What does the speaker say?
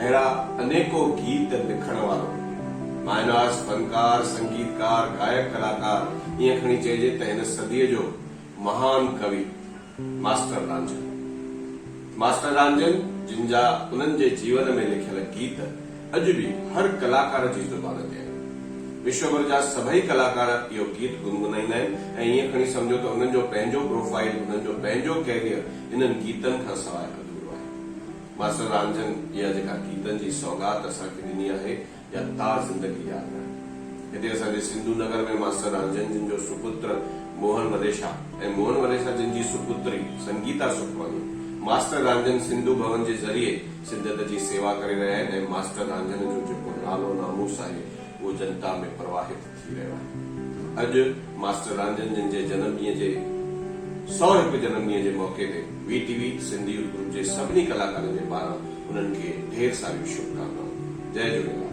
اهڙا انيڪو گيت لکڻ وارو مايناز فنڪار، سنگيتڪار، گائڪ ڪلاڪار ائين کڻي چئجي ته هن صديء جو مهان ڪوي ماسٽر رانجهن. ماسٽر رانجهن جن جا انهن جي جيون ۾ لکيل گيت اڄ به هر ڪلاڪار جي زبان تي آهن. وشوڀر جا سڀئي ڪلاڪار اهو گيت گنگنائيندا آهن ۽ ائين کڻي سمجهو ته انهن جو پنهنجو پروفائيل، انهن جو پنهنجو ڪيريئر انهن گيتن کان سواء اڌورو آهي. ماستر رانجهن اها جيڪا گيتن جي سوغات اسان کي ڏني آهي اها تا زندگي ياد رهندي. هتي اسان جي سنڌو نگر ۾ ماستر رانجهن جن جو سپتر موهن وليشا ۽ موهن وليشا جن جي سپتري سنگيتا سکواني ماستر رانجهن سنڌو ڀون جي ذريعي سنڌيت جي سيوا ڪري رهيا آهن ۽ ماستر رانجهن جو جيڪو نالو ناموس آهي اهو جنتا ۾ پرواهت ٿي رهيو آهي. اڄ ماسٽر رانجهن جن جي جنم ڏينهن جي سؤ هڪ جنم ڏينهن جي موقعي تي V T V Sindh youth group جي سڀني ڪلاڪارن جي پاران انهن کي ڍير ساريون شڀڪامنائون. جئي جهوليلال.